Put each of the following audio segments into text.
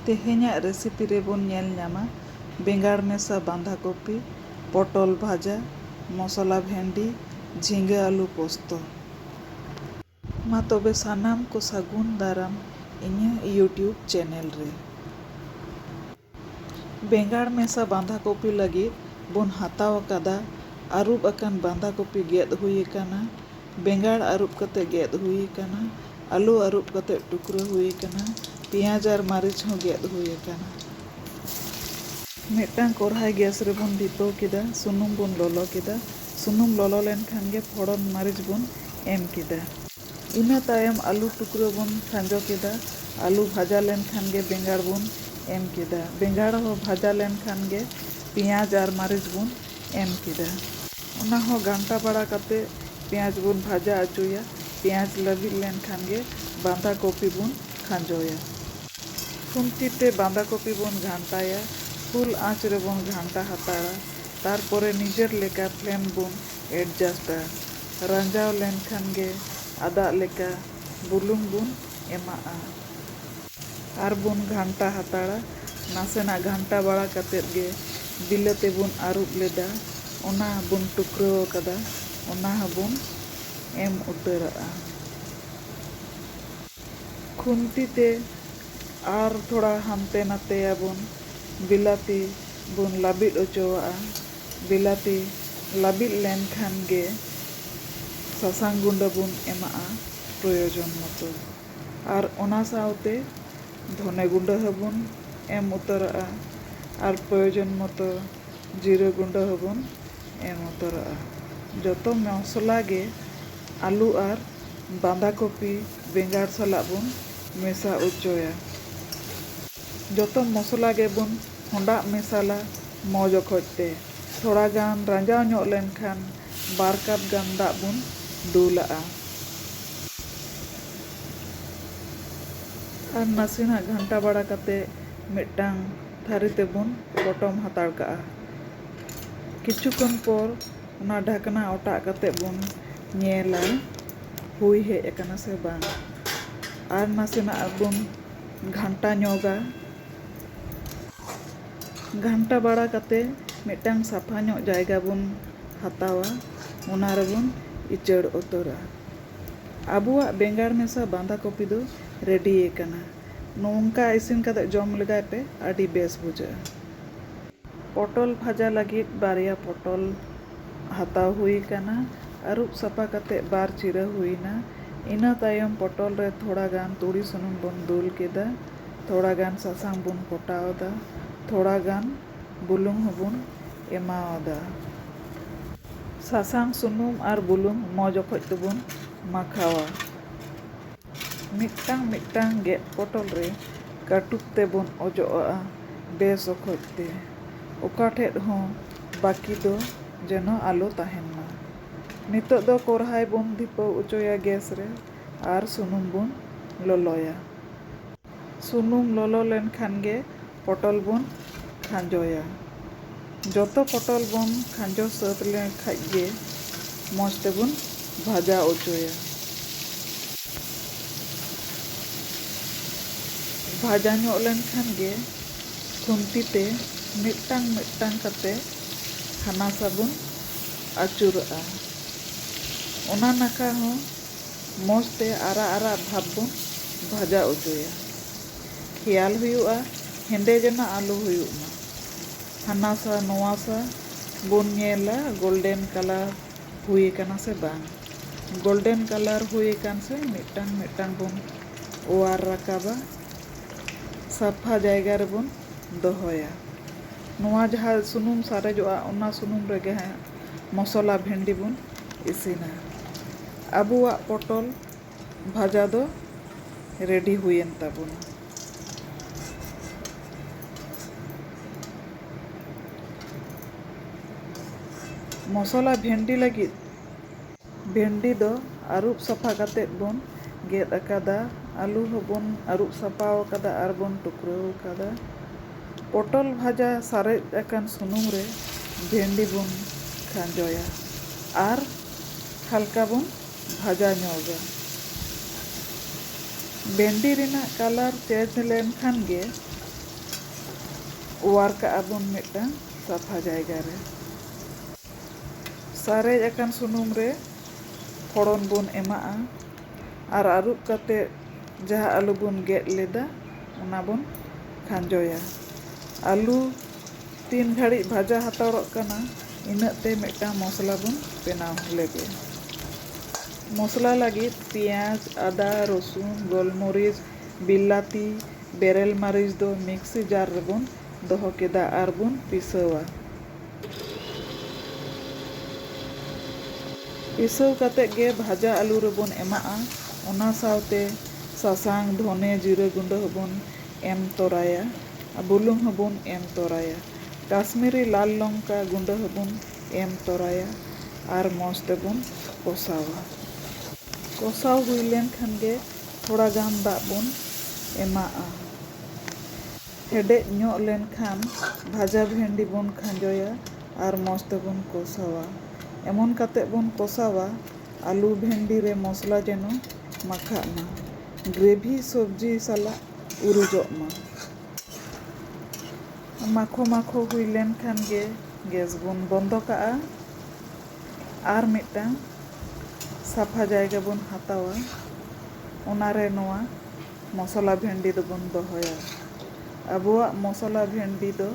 ᱛᱮᱦᱮᱧᱟᱜ ᱨᱮᱥᱤᱯᱤ ᱨᱮ ᱵᱚᱱ ᱧᱮᱞ ᱧᱟᱢᱟ ᱵᱮᱸᱜᱟᱲ ᱢᱮᱥᱟ ᱵᱟᱸᱫᱷᱟ ᱠᱚᱯᱤ, ᱯᱚᱴᱚᱞ ᱵᱷᱟᱡᱟ, ᱢᱚᱥᱞᱟ ᱵᱷᱮᱱᱰᱤ, ᱡᱷᱤᱸᱜᱟᱹ ᱟᱹᱞᱩ ᱯᱚᱥᱛᱚ᱾ ᱢᱟ ᱛᱚᱵᱮ ᱥᱟᱱᱟᱢ ᱠᱚ ᱥᱟᱹᱜᱩᱱ ᱫᱟᱨᱟᱢ ᱤᱧᱟᱹᱜ ᱭᱩᱴᱭᱩᱵᱽ ᱪᱮᱱᱮᱞ ᱨᱮ᱾ ᱵᱮᱸᱜᱟᱲ ᱢᱮᱥᱟ ᱵᱟᱸᱫᱷᱟ ᱠᱚᱯᱤ ᱞᱟᱹᱜᱤᱫ ᱵᱚᱱ ᱦᱟᱛᱟᱣ ᱟᱠᱟᱫᱟ᱾ ᱟᱹᱨᱩᱵ ᱟᱠᱟᱱ ᱵᱟᱸᱫᱷᱟ ᱠᱚᱯᱤ ᱜᱮᱫ ᱦᱩᱭ ᱟᱠᱟᱱᱟ᱾ ᱵᱮᱸᱜᱟᱲ ᱟᱹᱨᱩᱵ ᱠᱟᱛᱮ ᱜᱮᱫ ᱦᱩᱭ ᱟᱠᱟᱱᱟ᱾ ᱟᱹᱞᱩ ᱟᱹᱨᱩᱵ ᱠᱟᱛᱮ ᱴᱩᱠᱨᱟᱹ ᱦᱩᱭ ᱟᱠᱟᱱᱟ᱾ ᱯᱮᱸᱭᱟᱡᱽ ᱟᱨ ᱢᱟᱹᱨᱤᱪ ᱦᱚᱸ ᱜᱮᱫ ᱦᱩᱭ ᱟᱠᱟᱱᱟ᱾ ᱢᱤᱫᱴᱟᱝ ᱠᱚᱨᱦᱟᱭ ᱜᱮᱥ ᱨᱮ ᱵᱚᱱ ᱫᱷᱤᱯᱟᱹᱣ ᱠᱮᱫᱟ᱾ ᱥᱩᱱᱩᱢ ᱵᱚᱱ ᱞᱚᱞᱚ ᱠᱮᱫᱟ᱾ ᱥᱩᱱᱩᱢ ᱞᱚᱞᱚ ᱞᱮᱱ ᱠᱷᱟᱱ ᱜᱮ ᱯᱷᱚᱲᱚᱱ ᱢᱟᱹᱨᱤᱪ ᱵᱚᱱ ᱮᱢ ᱠᱮᱫᱟ᱾ ᱤᱱᱟᱹ ᱛᱟᱭᱚᱢ ᱟᱹᱞᱩ ᱴᱩᱠᱨᱟᱹ ᱵᱚᱱ ᱠᱷᱟᱸᱡᱚ ᱠᱮᱫᱟ᱾ ᱟᱹᱞᱩ ᱵᱷᱟᱡᱟ ᱞᱮᱱ ᱠᱷᱟᱱ ᱜᱮ ᱵᱮᱸᱜᱟᱲ ᱵᱚᱱ ᱮᱢ ᱠᱮᱫᱟ᱾ ᱵᱮᱸᱜᱟᱲ ᱦᱚᱸ ᱵᱷᱟᱡᱟ ᱞᱮᱱ ᱠᱷᱟᱱ ᱜᱮ ᱯᱮᱸᱭᱟᱡᱽ ᱟᱨ ᱢᱟᱹᱨᱤᱪ ᱵᱚᱱ ᱮᱢ ᱠᱮᱫᱟ᱾ ᱚᱱᱟ ᱦᱚᱸ ᱜᱷᱟᱱᱴᱟ ᱵᱟᱲᱟ ᱠᱟᱛᱮ ᱯᱮᱸᱭᱟᱡᱽ ᱵᱚᱱ ᱵᱷᱟᱡᱟ ᱚᱪᱚᱭᱟ᱾ ᱯᱮᱸᱭᱟᱡᱽ ᱞᱟᱹᱵᱤᱫ ᱞᱮᱱ ᱠᱷᱟᱱ ᱜᱮ ᱵᱟᱸᱫᱷᱟ ᱠᱚᱯᱤ ᱵᱚᱱ ᱠᱷᱟᱸᱡᱚᱭᱟ᱾ ᱠᱷᱩᱱᱛᱤ ᱛᱮ ᱵᱟᱸᱫᱷᱟ ᱠᱚᱯᱤ ᱵᱚᱱ ᱜᱷᱟᱱᱴᱟᱭᱟ᱾ ᱯᱷᱩᱞ ᱟᱸᱪ ᱨᱮᱵᱚᱱ ᱜᱷᱟᱱᱴᱟ ᱦᱟᱛᱟᱲᱟ᱾ ᱛᱟᱨᱯᱚᱨᱮ ᱱᱤᱡᱮᱨ ᱞᱮᱠᱟ ᱯᱷᱞᱮᱢ ᱵᱚᱱ ᱮᱰᱡᱟᱥᱴᱼᱟ᱾ ᱨᱟᱸᱡᱟᱣ ᱞᱮᱱ ᱠᱷᱟᱱ ᱜᱮ ᱟᱫᱟᱜ ᱞᱮᱠᱟ ᱵᱩᱞᱩᱝ ᱵᱚᱱ ᱮᱢᱟᱜᱼᱟ᱾ ᱟᱨ ᱵᱚᱱ ᱜᱷᱟᱱᱴᱟ ᱦᱟᱛᱟᱲᱟ᱾ ᱱᱟᱥᱮᱱᱟᱜ ᱜᱷᱟᱱᱴᱟ ᱵᱟᱲᱟ ᱠᱟᱛᱮᱫ ᱜᱮ ᱵᱤᱞᱟᱹᱛᱤ ᱵᱚᱱ ᱟᱹᱨᱩᱵ ᱞᱮᱫᱟ ᱚᱱᱟ ᱵᱚᱱ ᱴᱩᱠᱨᱟᱹᱣ ᱟᱠᱟᱫᱟ ᱚᱱᱟ ᱦᱚᱸ ᱵᱚᱱ ᱮᱢ ᱩᱛᱟᱹᱨᱟᱜᱼᱟ᱾ ᱠᱷᱩᱱᱛᱤ ᱛᱮ ᱟᱨ ᱛᱷᱚᱲᱟ ᱦᱟᱱᱛᱮ ᱱᱟᱛᱮᱭᱟᱵᱚᱱ ᱵᱤᱞᱟᱹᱛᱤ ᱵᱚᱱ ᱞᱟᱹᱵᱤᱫ ᱚᱪᱚᱣᱟᱜᱼᱟ᱾ ᱵᱤᱞᱟᱹᱛᱤ ᱞᱟᱹᱵᱤᱫ ᱞᱮᱱ ᱠᱷᱟᱱ ᱜᱮ ᱥᱟᱥᱟᱝ ᱜᱩᱸᱰᱟᱹ ᱵᱚᱱ ᱮᱢᱟᱜᱼᱟ ᱯᱨᱚᱭᱳᱡᱚᱱ ᱢᱚᱛᱚ ᱟᱨ ᱚᱱᱟ ᱥᱟᱶᱛᱮ ᱫᱷᱚᱱᱮ ᱜᱩᱸᱰᱟᱹ ᱦᱚᱸᱵᱚᱱ ᱮᱢ ᱩᱛᱟᱹᱨᱟᱜᱼᱟ ᱟᱨ ᱯᱨᱚᱭᱳᱡᱚᱱ ᱢᱚᱛᱚ ᱡᱤᱨᱟᱹ ᱜᱩᱸᱰᱟᱹ ᱦᱚᱸᱵᱚᱱ ᱮᱢ ᱩᱛᱟᱹᱨᱟᱜᱼᱟ ᱡᱚᱛᱚ ᱢᱚᱥᱞᱟ ᱜᱮ ᱟᱹᱞᱩ ᱟᱨ ᱵᱟᱸᱫᱷᱟ ᱠᱚᱯᱤ ᱵᱮᱸᱜᱟᱲ ᱥᱟᱞᱟᱜ ᱵᱚᱱ ᱢᱮᱥᱟ ᱚᱪᱚᱭᱟ ᱡᱚᱛᱚ ᱢᱚᱥᱞᱟ ᱜᱮᱵᱚᱱ ᱦᱚᱸᱰᱟᱜ ᱢᱮᱥᱟᱞᱟ ᱢᱚᱡᱽ ᱚᱠᱚᱡ ᱛᱮ᱾ ᱛᱷᱚᱲᱟ ᱜᱟᱱ ᱨᱟᱸᱡᱟᱣ ᱧᱚᱜ ᱞᱮᱱ ᱠᱷᱟᱱ ᱵᱟᱨ ᱠᱟᱯ ᱜᱟᱱ ᱫᱟᱜ ᱵᱚᱱ ᱫᱩᱞᱟᱜᱼᱟ᱾ ᱟᱨ ᱱᱟᱥᱮᱱᱟᱜ ᱜᱷᱟᱱᱴᱟ ᱵᱟᱲᱟ ᱠᱟᱛᱮ ᱢᱤᱫᱴᱟᱝ ᱛᱷᱟᱹᱨᱤ ᱛᱮᱵᱚᱱ ᱯᱚᱴᱚᱢ ᱦᱟᱛᱟᱲ ᱠᱟᱜᱼᱟ᱾ ᱠᱤᱪᱷᱩ ᱠᱷᱚᱱ ᱯᱚᱨ ᱚᱱᱟ ᱰᱷᱟᱠᱱᱟ ᱚᱴᱟᱜ ᱠᱟᱛᱮ ᱵᱚᱱ ᱧᱮᱞᱟ ᱦᱩᱭ ᱦᱮᱡ ᱟᱠᱟᱱᱟ ᱥᱮ ᱵᱟᱝ᱾ ᱟᱨ ᱱᱟᱥᱮᱱᱟᱜ ᱵᱚᱱ ᱜᱷᱟᱱᱴᱟ ᱧᱚᱜᱟ᱾ ᱜᱷᱟᱱᱴᱟ ᱵᱟᱲᱟ ᱠᱟᱛᱮ ᱢᱤᱫᱴᱟᱝ ᱥᱟᱯᱷᱟ ᱧᱚᱜ ᱡᱟᱭᱜᱟ ᱵᱚᱱ ᱦᱟᱛᱟᱣᱟ ᱚᱱᱟ ᱨᱮᱵᱚᱱ ᱤᱪᱟᱹᱲ ᱩᱛᱟᱹᱨᱟ᱾ ᱟᱵᱚᱣᱟᱜ ᱵᱮᱸᱜᱟᱲ ᱢᱮᱥᱟ ᱵᱟᱸᱫᱷᱟ ᱠᱚᱯᱤ ᱫᱚ ᱨᱮᱰᱤ ᱟᱠᱟᱱᱟ᱾ ᱱᱚᱝᱠᱟ ᱤᱥᱤᱱ ᱠᱟᱛᱮ ᱡᱚᱢ ᱞᱮᱜᱟᱭ ᱯᱮ ᱟᱹᱰᱤ ᱵᱮᱥ ᱵᱩᱡᱷᱟᱹᱜᱼᱟ᱾ ᱯᱚᱴᱚᱞ ᱵᱷᱟᱡᱟ ᱞᱟᱹᱜᱤᱫ ᱵᱟᱨᱭᱟ ᱯᱚᱴᱚᱞ ᱦᱟᱛᱟᱣ ᱦᱩᱭ ᱟᱠᱟᱱᱟ᱾ ᱟᱹᱨᱩᱵ ᱥᱟᱯᱷᱟ ᱠᱟᱛᱮ ᱵᱟᱨ ᱪᱤᱨᱟᱹ ᱦᱩᱭ ᱮᱱᱟ᱾ ᱤᱱᱟᱹ ᱛᱟᱭᱚᱢ ᱯᱚᱴᱚᱞ ᱨᱮ ᱛᱷᱚᱲᱟ ᱜᱟᱱ ᱛᱩᱲᱤ ᱥᱩᱱᱩᱢ ᱵᱚᱱ ᱫᱩᱞ ᱠᱮᱫᱟ᱾ ᱛᱷᱚᱲᱟ ᱜᱟᱱ ᱥᱟᱥᱟᱝ ᱵᱚᱱ ᱠᱚᱴᱟᱣᱟᱫᱟ᱾ ᱛᱷᱚᱲᱟ ᱜᱟᱱ ᱵᱩᱞᱩᱝ ᱦᱚᱸ ᱵᱚᱱ ᱮᱢᱟᱣᱟᱫᱟ᱾ ᱥᱟᱥᱟᱝ, ᱥᱩᱱᱩᱢ ᱟᱨ ᱵᱩᱞᱩᱝ ᱢᱚᱡᱽ ᱚᱠᱚᱡ ᱛᱮ ᱵᱚᱱ ᱢᱟᱠᱷᱟᱣᱟ᱾ ᱢᱤᱫᱴᱟᱝ ᱢᱤᱫᱴᱟᱝ ᱜᱮᱫ ᱯᱚᱴᱚᱞ ᱨᱮ ᱠᱟᱹᱴᱩᱵ ᱛᱮ ᱵᱚᱱ ᱚᱡᱚᱜ ᱟᱜᱼᱟ ᱵᱮᱥ ᱚᱠᱚᱡ ᱛᱮ᱾ ᱚᱠᱟ ᱴᱷᱮᱫ ᱦᱚᱸ ᱵᱟᱹᱠᱤ ᱫᱚ ᱡᱮᱱᱚ ᱟᱞᱚ ᱛᱟᱦᱮᱱ ᱢᱟ᱾ ᱱᱤᱛᱚᱜ ᱫᱚ ᱠᱚᱨᱦᱟᱭ ᱵᱚᱱ ᱫᱷᱤᱯᱟᱹᱣ ᱚᱪᱚᱭᱟ ᱜᱮᱥ ᱨᱮ ᱟᱨ ᱥᱩᱱᱩᱢ ᱵᱚᱱ ᱞᱚᱞᱚᱭᱟ᱾ ᱥᱩᱱᱩᱢ ᱞᱚᱞᱚ ᱞᱮᱱ ᱠᱷᱟᱱ ᱜᱮ ᱯᱚᱴᱚᱞ ᱵᱚᱱ ᱠᱷᱟᱸᱡᱚᱭᱟ᱾ ᱡᱚᱛᱚ ᱯᱚᱴᱚᱞ ᱵᱚᱱ ᱠᱷᱟᱸᱡᱚ ᱥᱟᱹᱛ ᱞᱮᱱ ᱠᱷᱟᱡ ᱜᱮ ᱢᱚᱡᱽ ᱛᱮᱵᱚᱱ ᱵᱷᱟᱡᱟ ᱚᱪᱚᱭᱟ᱾ ᱵᱷᱟᱡᱟ ᱧᱚᱜ ᱞᱮᱱ ᱠᱷᱟᱱ ᱜᱮ ᱠᱷᱩᱱᱛᱤ ᱛᱮ ᱢᱤᱫᱴᱟᱝ ᱢᱤᱫᱴᱟᱝ ᱠᱟᱛᱮ ᱦᱟᱱᱟ ᱥᱟ ᱵᱚᱱ ᱟᱹᱪᱩᱨᱟᱜᱼᱟ᱾ ᱚᱱᱟ ᱱᱟᱠᱷᱟ ᱦᱚᱸ᱾ ᱢᱚᱡᱽ ᱛᱮ ᱟᱨᱟᱜ ᱟᱨᱟᱜ ᱵᱷᱟᱵᱽ ᱵᱚᱱ ᱵᱷᱟᱡᱟ ᱚᱪᱚᱭᱟ᱾ ᱠᱷᱮᱭᱟᱞ ᱦᱩᱭᱩᱜᱼᱟ ᱦᱮᱸᱫᱮ ᱡᱮᱱᱚ ᱟᱞᱚ ᱦᱩᱭᱩᱜ ᱢᱟ᱾ ᱦᱟᱱᱟᱥᱟ ᱱᱚᱣᱟᱥᱟ ᱵᱚᱱ ᱧᱮᱞᱟ ᱜᱳᱞᱰᱮᱱ ᱠᱟᱞᱟᱨ ᱦᱩᱭ ᱟᱠᱟᱱᱟ ᱥᱮ ᱵᱟᱝ᱾ ᱜᱳᱞᱰᱮᱱ ᱠᱟᱞᱟᱨ ᱦᱩᱭ ᱟᱠᱟᱱ ᱥᱮ ᱢᱤᱫᱴᱟᱝ ᱢᱤᱫᱴᱟᱝ ᱵᱚᱱ ᱚᱣᱟᱨ ᱨᱟᱠᱟᱵᱟ᱾ ᱥᱟᱯᱷᱟ ᱡᱟᱭᱜᱟ ᱨᱮᱵᱚᱱ ᱫᱚᱦᱚᱭᱟ᱾ ᱱᱚᱣᱟ ᱡᱟᱦᱟᱸ ᱥᱩᱱᱩᱢ ᱥᱟᱨᱮᱡᱚᱜᱼᱟ ᱚᱱᱟ ᱥᱩᱱᱩᱢ ᱨᱮᱜᱮ ᱦᱟᱸᱜ᱾ ᱢᱚᱥᱚᱞᱟ ᱵᱷᱮᱱᱰᱤ ᱵᱚᱱ ᱤᱥᱤᱱᱟ᱾ ᱟᱵᱚᱣᱟᱜ ᱯᱚᱴᱚᱞ ᱵᱷᱟᱡᱟ ᱫᱚ ᱨᱮᱰᱤ ᱦᱩᱭᱮᱱ ᱛᱟᱵᱚᱱᱟ᱾ ᱢᱚᱥᱚᱞᱟ ᱵᱷᱮᱱᱰᱤ ᱞᱟᱹᱜᱤᱫ ᱵᱷᱮᱱᱰᱤ ᱫᱚ ᱟᱹᱨᱩᱵ ᱥᱟᱯᱷᱟ ᱠᱟᱛᱮ ᱵᱚᱱ ᱜᱮᱫ ᱟᱠᱟᱫᱟ᱾ ᱟᱹᱞᱩ ᱦᱚᱸ ᱵᱚᱱ ᱟᱹᱨᱩᱵ ᱥᱟᱯᱷᱟ ᱟᱠᱟᱫᱟ ᱟᱨ ᱵᱚᱱ ᱴᱩᱠᱨᱟᱹᱣ ᱟᱠᱟᱫᱟ᱾ ᱯᱚᱴᱚᱞ ᱵᱷᱟᱡᱟ ᱥᱟᱨᱮᱡ ᱟᱠᱟᱱ ᱥᱩᱱᱩᱢ ᱨᱮ ᱵᱷᱮᱱᱰᱤ ᱵᱚᱱ ᱠᱷᱟᱸᱡᱚᱭᱟ ᱟᱨ ᱦᱟᱞᱠᱟ ᱵᱚᱱ ᱵᱷᱟᱡᱟ ᱧᱚᱜᱟ᱾ ᱵᱷᱮᱱᱰᱤ ᱨᱮᱱᱟᱜ ᱠᱟᱞᱟᱨ ᱪᱮᱸᱡᱽ ᱞᱮᱱ ᱠᱷᱟᱱ ᱜᱮ ᱚᱣᱟᱨ ᱠᱟᱜᱼᱟ ᱵᱚᱱ ᱢᱤᱫᱴᱟᱝ ᱥᱟᱯᱷᱟ ᱡᱟᱭᱜᱟ ᱨᱮ᱾ ᱥᱟᱨᱮᱡ ᱟᱠᱟᱱ ᱥᱩᱱᱩᱢ ᱨᱮ ᱯᱷᱚᱲᱚᱱ ᱵᱚᱱ ᱮᱢᱟᱜᱼᱟ ᱟᱨ ᱟᱹᱨᱩᱵ ᱠᱟᱛᱮ ᱡᱟᱦᱟᱸ ᱟᱹᱞᱩ ᱵᱚᱱ ᱜᱮᱫ ᱞᱮᱫᱟ ᱚᱱᱟ ᱵᱚᱱ ᱠᱷᱟᱸᱡᱚᱭᱟ᱾ ᱟᱹᱞᱩ ᱛᱤᱱ ᱜᱷᱟᱹᱲᱤᱡ ᱵᱷᱟᱡᱟ ᱦᱟᱛᱟᱲᱚᱜ ᱠᱟᱱᱟ ᱤᱱᱟᱹᱜ ᱛᱮ ᱢᱤᱫᱴᱟᱝ ᱢᱚᱥᱞᱟ ᱵᱚᱱ ᱵᱮᱱᱟᱣ ᱞᱮᱜᱮ᱾ ᱢᱚᱥᱞᱟ ᱞᱟᱹᱜᱤᱫ ᱯᱮᱸᱭᱟᱡᱽ, ᱟᱫᱟ, ᱨᱚᱥᱩᱱ, ᱜᱚᱞᱢᱚᱨᱤᱪ, ᱵᱤᱞᱟᱹᱛᱤ, ᱵᱮᱨᱮᱞ ᱢᱟᱹᱨᱤᱪ ᱫᱚ ᱢᱤᱠᱥᱤ ᱡᱟᱨ ᱨᱮᱵᱚᱱ᱾ ᱫᱚᱦᱚ ᱠᱮᱫᱟ ᱟᱨ ᱵᱚᱱ ᱯᱤᱥᱟᱹᱣᱟ᱾ ᱯᱤᱥᱟᱹᱣ ᱠᱟᱛᱮ ᱜᱮ ᱵᱷᱟᱡᱟ ᱟᱹᱞᱩ ᱨᱮᱵᱚᱱ ᱮᱢᱟᱜᱼᱟ᱾ ᱚᱱᱟ ᱥᱟᱶᱛᱮ ᱥᱟᱥᱟᱝ, ᱫᱷᱚᱱᱮ, ᱡᱤᱨᱟᱹ ᱜᱩᱸᱰᱟᱹ ᱦᱚᱸᱵᱚᱱ ᱮᱢ ᱛᱚᱨᱟᱭᱟ᱾ ᱵᱩᱞᱩᱝ ᱦᱚᱸᱵᱚᱱ ᱮᱢ ᱛᱚᱨᱟᱭᱟ᱾ ᱠᱟᱥᱢᱤᱨᱤ ᱞᱟᱞ ᱞᱚᱝᱠᱟ ᱜᱩᱸᱰᱟᱹ ᱦᱚᱸᱵᱚᱱ ᱮᱢ ᱛᱚᱨᱟᱭᱟ ᱟᱨ ᱢᱚᱡᱽ ᱛᱮᱵᱚᱱ ᱠᱚᱥᱟᱣᱟ᱾ ᱠᱚᱥᱟᱣ ᱦᱩᱭ ᱞᱮᱱ ᱠᱷᱟᱱ ᱜᱮ ᱛᱷᱚᱲᱟ ᱜᱟᱱ ᱫᱟᱜ ᱵᱚᱱ ᱮᱢᱟᱜᱼᱟ᱾ ᱦᱮᱰᱮᱡ ᱧᱚᱜ ᱞᱮᱱ ᱠᱷᱟᱱ ᱵᱷᱟᱡᱟ ᱵᱷᱮᱱᱰᱤ ᱵᱚᱱ ᱠᱷᱟᱸᱡᱚᱭᱟ ᱟᱨ ᱢᱚᱡᱽ ᱛᱮᱵᱚᱱ ᱠᱚᱥᱟᱣᱟ᱾ ᱮᱢᱚᱱ ᱠᱟᱛᱮ ᱵᱚᱱ ᱠᱚᱥᱟᱣᱟ ᱟᱹᱞᱩ ᱵᱷᱮᱱᱰᱤ ᱨᱮ ᱢᱚᱥᱞᱟ ᱡᱮᱱᱚ ᱢᱟᱠᱷᱟᱜ ᱢᱟ᱾ ᱜᱨᱮᱵᱷᱤ ᱥᱚᱵᱽᱡᱤ ᱥᱟᱞᱟᱜ ᱩᱨᱩᱡᱚᱜ ᱢᱟ᱾ ᱢᱟᱠᱷᱚ ᱢᱟᱠᱷᱚ ᱦᱩᱭ ᱞᱮᱱ ᱠᱷᱟᱱ ᱜᱮ ᱜᱮᱥ ᱵᱚᱱ ᱵᱚᱱᱫᱚ ᱠᱟᱜᱼᱟ᱾ ᱟᱨ ᱢᱤᱫᱴᱟᱝ ᱥᱟᱯᱷᱟ ᱡᱟᱭᱜᱟ ᱵᱚᱱ ᱦᱟᱛᱟᱣᱟ᱾ ᱚᱱᱟ ᱨᱮ ᱱᱚᱣᱟ᱾ ᱢᱚᱥᱚᱞᱟ ᱵᱷᱮᱱᱰᱤ ᱫᱚᱵᱚᱱ ᱫᱚᱦᱚᱭᱟ᱾ ᱟᱵᱚᱣᱟᱜ ᱢᱚᱥᱚᱞᱟ ᱵᱷᱮᱱᱰᱤ ᱫᱚ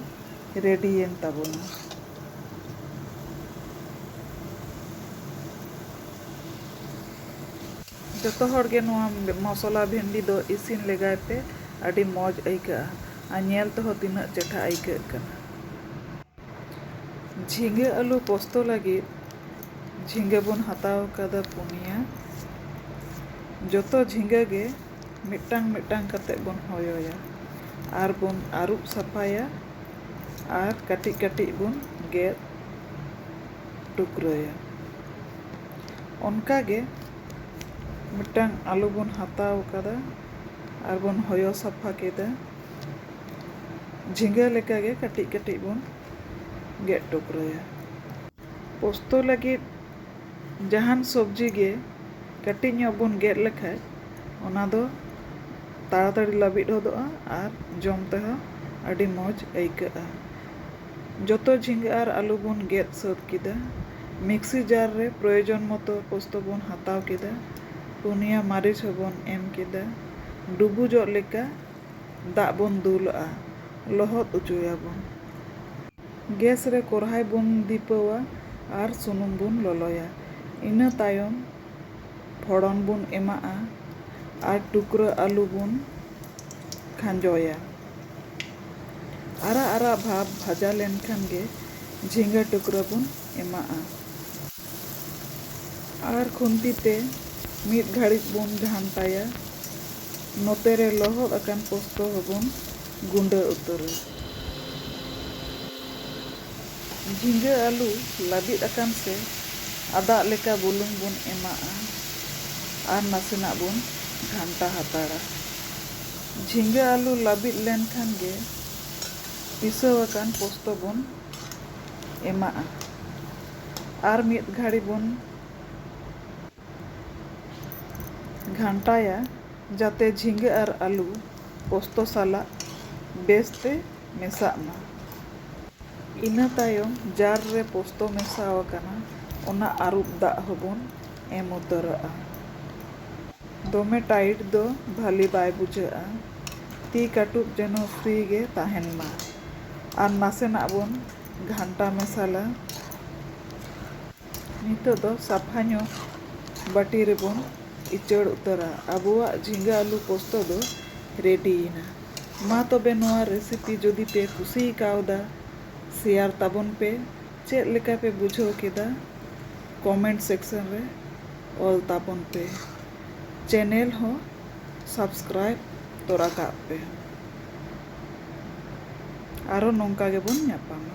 ᱨᱮᱰᱤᱭᱮᱱ ᱛᱟᱵᱚᱱᱟ᱾ ᱡᱚᱛᱚ ᱦᱚᱲ ᱜᱮ ᱱᱚᱣᱟ ᱢᱚᱥᱚᱞᱟ ᱵᱷᱮᱱᱰᱤ ᱫᱚ ᱤᱥᱤᱱ ᱞᱮᱜᱟᱭ ᱯᱮ ᱟᱹᱰᱤ ᱢᱚᱡᱽ ᱟᱹᱭᱠᱟᱹᱜᱼᱟ ᱟᱨ ᱧᱮᱞ ᱛᱮᱦᱚᱸ ᱛᱤᱱᱟᱹᱜ ᱪᱮᱴᱷᱟ ᱟᱹᱭᱠᱟᱹᱜ ᱠᱟᱱᱟ᱾ ᱡᱷᱤᱸᱜᱟᱹ ᱟᱹᱞᱩ ᱯᱚᱥᱛᱚ ᱞᱟᱹᱜᱤᱫ ᱡᱷᱤᱸᱜᱟᱹ ᱵᱚᱱ ᱦᱟᱛᱟᱣ ᱟᱠᱟᱫᱟ ᱯᱩᱱᱭᱟ᱾ ᱡᱚᱛᱚ ᱡᱷᱤᱸᱜᱟᱹ ᱜᱮ ᱢᱤᱫᱴᱟᱝ ᱢᱤᱫᱴᱟᱝ ᱠᱟᱛᱮ ᱵᱚᱱ ᱦᱚᱭᱚᱭᱟ ᱟᱨ ᱵᱚᱱ ᱟᱹᱨᱩᱵ ᱥᱟᱯᱷᱟᱭᱟ ᱟᱨ ᱠᱟᱹᱴᱤᱡ ᱠᱟᱹᱴᱤᱡ ᱵᱚᱱ ᱜᱮᱫ ᱴᱩᱠᱨᱟᱹᱭᱟ᱾ ᱚᱱᱠᱟ ᱜᱮ ᱢᱤᱫᱴᱟᱝ ᱟᱹᱞᱩ ᱵᱚᱱ ᱦᱟᱛᱟᱣ ᱟᱠᱟᱫᱟ ᱟᱨ ᱵᱚᱱ ᱦᱚᱭᱚ ᱥᱟᱯᱷᱟ ᱠᱮᱫᱟ᱾ ᱡᱷᱤᱸᱜᱟᱹ ᱞᱮᱠᱟ ᱜᱮ ᱠᱟᱹᱴᱤᱡ ᱠᱟᱹᱴᱤᱡ ᱵᱚᱱ ᱜᱮᱫ ᱴᱩᱠᱨᱟᱹᱭᱟ᱾ ᱯᱚᱥᱛᱚ ᱞᱟᱹᱜᱤᱫ ᱡᱟᱦᱟᱱ ᱥᱚᱵᱽᱡᱤ ᱜᱮ ᱠᱟᱹᱴᱤᱡ ᱧᱚᱜ ᱵᱚᱱ ᱜᱮᱫ ᱞᱮᱠᱷᱟᱡ ᱚᱱᱟ ᱫᱚ ᱛᱟᱲᱟ ᱛᱟᱹᱲᱤ ᱞᱟᱹᱵᱤᱫ ᱦᱚᱫᱚᱜᱼᱟ ᱟᱨ ᱡᱚᱢ ᱛᱮᱦᱚᱸ ᱟᱹᱰᱤ ᱢᱚᱡᱽ ᱟᱹᱭᱠᱟᱹᱜᱼᱟ᱾ ᱡᱚᱛᱚ ᱡᱷᱤᱸᱜᱟᱹ ᱟᱨ ᱟᱹᱞᱩ ᱵᱚᱱ ᱜᱮᱫ ᱥᱟᱹᱛ ᱠᱮᱫᱟ᱾ ᱢᱤᱠᱥᱤ ᱡᱟᱨ ᱨᱮ ᱯᱨᱚᱭᱚᱡᱚᱱ ᱢᱚᱛᱚ ᱯᱚᱥᱛᱚ ᱵᱚᱱ ᱦᱟᱛᱟᱣ ᱠᱮᱫᱟ᱾ ᱯᱩᱱᱭᱟ ᱢᱟᱹᱨᱤᱪ ᱦᱚᱸ ᱵᱚᱱ ᱮᱢ ᱠᱮᱫᱟ᱾ ᱰᱩᱵᱩᱡᱚᱜ ᱞᱮᱠᱟ᱾ ᱫᱟᱜ ᱵᱚᱱ ᱫᱩᱞᱟᱜᱼᱟ ᱞᱚᱦᱚᱫ ᱚᱪᱚᱭᱟᱵᱚᱱ᱾ ᱜᱮᱥ ᱨᱮ ᱠᱚᱨᱦᱟᱭ ᱵᱚᱱ ᱫᱷᱤᱯᱟᱹᱣᱟ ᱟᱨ ᱥᱩᱱᱩᱢ ᱵᱚᱱ ᱞᱚᱞᱚᱭᱟ᱾ ᱤᱱᱟᱹ ᱛᱟᱭᱚᱢ ᱯᱷᱚᱲᱚᱱ ᱵᱚᱱ ᱮᱢᱟᱜᱼᱟ ᱟᱨ ᱴᱩᱠᱨᱟᱹ ᱟᱹᱞᱩ ᱵᱚᱱ ᱠᱷᱟᱸᱡᱚᱭᱟ᱾ ᱟᱨᱟᱜ ᱟᱨᱟᱜ ᱵᱷᱟᱵᱽ ᱵᱷᱟᱡᱟ ᱞᱮᱱᱠᱷᱟᱱ ᱜᱮ ᱡᱷᱤᱸᱜᱟᱹ ᱴᱩᱠᱨᱟᱹ ᱵᱚᱱ ᱮᱢᱟᱜᱼᱟ ᱟᱨ ᱠᱷᱩᱱᱛᱤ ᱛᱮ ᱢᱤᱫ ᱜᱷᱟᱹᱲᱤᱡ ᱵᱚᱱ ᱜᱷᱟᱱᱴᱟᱭᱟ᱾ ᱱᱚᱛᱮ ᱨᱮ ᱞᱚᱦᱚᱫ ᱟᱠᱟᱱ ᱯᱚᱥᱛᱚ ᱦᱚᱸ ᱵᱚᱱ ᱜᱩᱸᱰᱟᱹ ᱩᱛᱟᱹᱨᱟ᱾ ᱡᱷᱤᱸᱜᱟᱹ ᱟᱹᱞᱩ ᱞᱟᱹᱵᱤᱫ ᱟᱠᱟᱱ ᱥᱮ ᱟᱫᱟᱜ ᱞᱮᱠᱟ ᱵᱩᱞᱩᱝ ᱵᱚᱱ ᱮᱢᱟᱜᱼᱟ ᱟᱨ ᱱᱟᱥᱮᱱᱟᱜ ᱵᱚᱱ ᱜᱷᱟᱱᱴᱟ ᱦᱟᱛᱟᱲᱟ᱾ ᱡᱷᱤᱸᱜᱟᱹ ᱟᱹᱞᱩ ᱞᱟᱹᱵᱤᱫ ᱞᱮᱱ ᱠᱷᱟᱱ ᱜᱮ ᱯᱤᱥᱟᱹᱣ ᱟᱠᱟᱱ ᱯᱚᱥᱛᱚ ᱵᱚᱱ ᱮᱢᱟᱜᱼᱟ ᱟᱨ ᱢᱤᱫ ᱜᱷᱟᱹᱲᱤ ᱵᱚᱱ᱾ ᱜᱷᱟᱱᱴᱟᱭᱟ ᱡᱟᱛᱮ ᱡᱷᱤᱸᱜᱟᱹ ᱟᱨ ᱟᱹᱞᱩ ᱯᱳᱥᱛᱳ ᱥᱟᱞᱟᱜ ᱵᱮᱥ ᱛᱮ ᱢᱮᱥᱟᱜ ᱢᱟ᱾ ᱤᱱᱟᱹ ᱛᱟᱭᱚᱢ ᱡᱟᱨ ᱨᱮ ᱯᱳᱥᱛᱳ ᱢᱮᱥᱟ ᱟᱠᱟᱱᱟ ᱚᱱᱟ ᱟᱹᱨᱩᱵ ᱫᱟᱜ ᱦᱚᱸ ᱵᱚᱱ ᱮᱢ ᱩᱛᱟᱹᱨᱟᱜᱼᱟ᱾ ᱫᱚᱢᱮ ᱴᱟᱭᱤᱴ ᱫᱚ ᱵᱷᱟᱹᱞᱤ ᱵᱟᱭ ᱵᱩᱡᱷᱟᱹᱜᱼᱟ᱾ ᱛᱤ ᱠᱟᱹᱴᱩᱵ ᱡᱮᱱᱚ ᱯᱷᱨᱤ ᱜᱮ ᱛᱟᱦᱮᱱ ᱢᱟ᱾ ᱟᱨ ᱱᱟᱥᱮᱱᱟᱜ ᱵᱚᱱ ᱜᱷᱟᱱᱴᱟ ᱢᱮᱥᱟᱞᱟ᱾ ᱱᱤᱛᱚᱜ ᱫᱚ ᱥᱟᱯᱷᱟ ᱧᱚᱜ ᱵᱟᱹᱴᱤ ᱨᱮᱵᱚᱱ ᱤᱪᱟᱹᱲ ᱩᱛᱟᱹᱨᱟ ᱟᱵᱚᱣᱟᱜ ᱡᱷᱤᱸᱜᱟᱹ ᱟᱹᱞᱩ ᱯᱚᱥᱛᱚ ᱫᱚ ᱨᱮᱰᱤ ᱮᱱᱟ᱾ ᱢᱟ ᱛᱚᱵᱮ ᱱᱚᱣᱟ ᱨᱮᱥᱤᱯᱤ ᱡᱩᱫᱤ ᱯᱮ ᱠᱩᱥᱤ ᱠᱟᱣᱫᱟ ᱥᱮᱭᱟᱨ ᱛᱟᱵᱚᱱ ᱯᱮ ᱪᱮᱫ ᱞᱮᱠᱟ ᱯᱮ ᱵᱩᱡᱷᱟᱹᱣ ᱠᱮᱫᱟ ᱠᱚᱢᱮᱱᱴ ᱥᱮᱠᱥᱚᱱ ᱨᱮ ᱚᱞ ᱛᱟᱵᱚᱱ ᱯᱮ ᱪᱮᱱᱮᱞ ᱦᱚᱸ ᱥᱟᱵᱥᱠᱨᱟᱭᱤᱵ ᱛᱚᱨᱟ ᱠᱟᱜ ᱯᱮ ᱟᱨᱦᱚᱸ ᱱᱚᱝᱠᱟ ᱜᱮᱵᱚᱱ ᱧᱟᱯᱟᱢᱟ᱾